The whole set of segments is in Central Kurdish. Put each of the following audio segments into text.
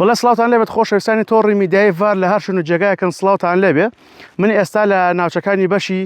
وەڵا سڵاوتان لێبێت خۆشەویستانی تۆڕی میدیای ڤار لە هەر شوێن و جێگایەکن سڵاوتان لێبێ من ئێستا لە ناوچەکانی بەشی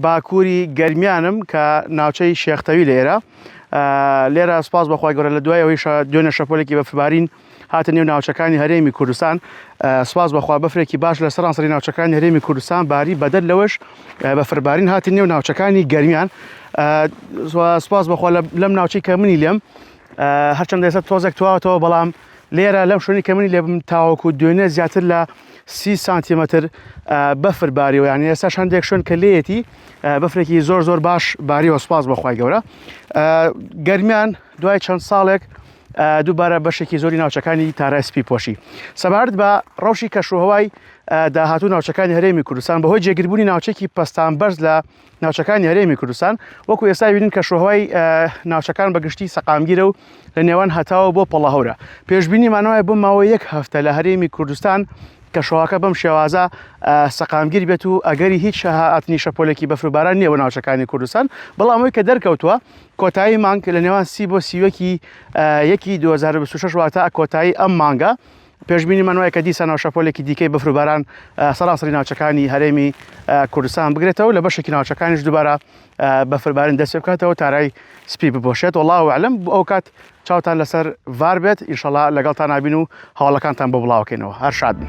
باکووری گەرمیانم کە ناوچەی شێختەوی لە ئێرە لێرە سپاس بەخوای گەورە لە دوای ئەوەی دوێنێ شەپۆلێکی بەفربارین هاتە نێو ناوچەکانی هەرێمی کوردستان سپاس بەخوا بەفرێکی باش لە سەرانسەری ناوچەکانی هەرێمی کوردستان باری بەدەر لەوەش بەفربارین هاتی نێو ناوچەکانی گەرمیان سپاس بەخوا لەم ناوچەی کە منی لێم هەرچەندە ئێستا تۆزێک تواوەتەوە بەڵام لێرە لەم شوێنی کە منی لێ بم تاوەکو دوێنێ زیاتر لە سی سانتیمەتر بەفر باریەوە یان ئێستا شاندێک شوێن کە لێتی بەفرێکی زۆر زۆر باش باریەوە سپاس بەخوای گەورە گەرمیان دوای چەند ساڵێک دووبارە بەشێکی زۆری ناوچەکانی تارای سپی پۆشی سەبارەت بە ڕەوشی کەشوهوای داهاتوو ناوچەکانی هەرێمی کوردستان بەهۆی جێگربوونی ناوچێکی پستان بەرز لە ناوچەکانی هەرێمی کوردستان وەکو ئێستا بینین کە شوهوای ناوچەکان بە گشتی سەقامگیرە و لە نێوان هەتاوە بۆ پەڵەهورە پێشببینی مانەوەی بۆ ماوە یەک هەفتە لە هەرێمی کوردستان کە شوهاکە بەم شێوازە سەقامگیر بێت و ئەگەری هیچ شەهاتنی شەپۆلێکی بەفرباران نییە بە ناوچەکانی کوردستان بەڵامەوەی کە دەرکەوتووە کۆتایی مانگ لە نێوان سی بۆ سیوەکی یەکی 2026 واتە کۆتایی ئەم مانگە پێشبینیمان وایە کە دیسانەوە شەپۆلێکی دیکەی بەفروباران سەرانسەری ناوچەکانی هەرێمی کوردستان بگرێتەوە لە بەشێکی ناوچەکانیش دووبارە بەفربارین دەست بکاتەوە تارای سپی بپۆشێت وڵاو وعلم ئەو کات چاوتان لەسەر ڤار بێت ئیشەڵا لەگەڵتان نابین و هەواڵەکانتان بۆ بڵاوکەینەوە هەر شاد بن.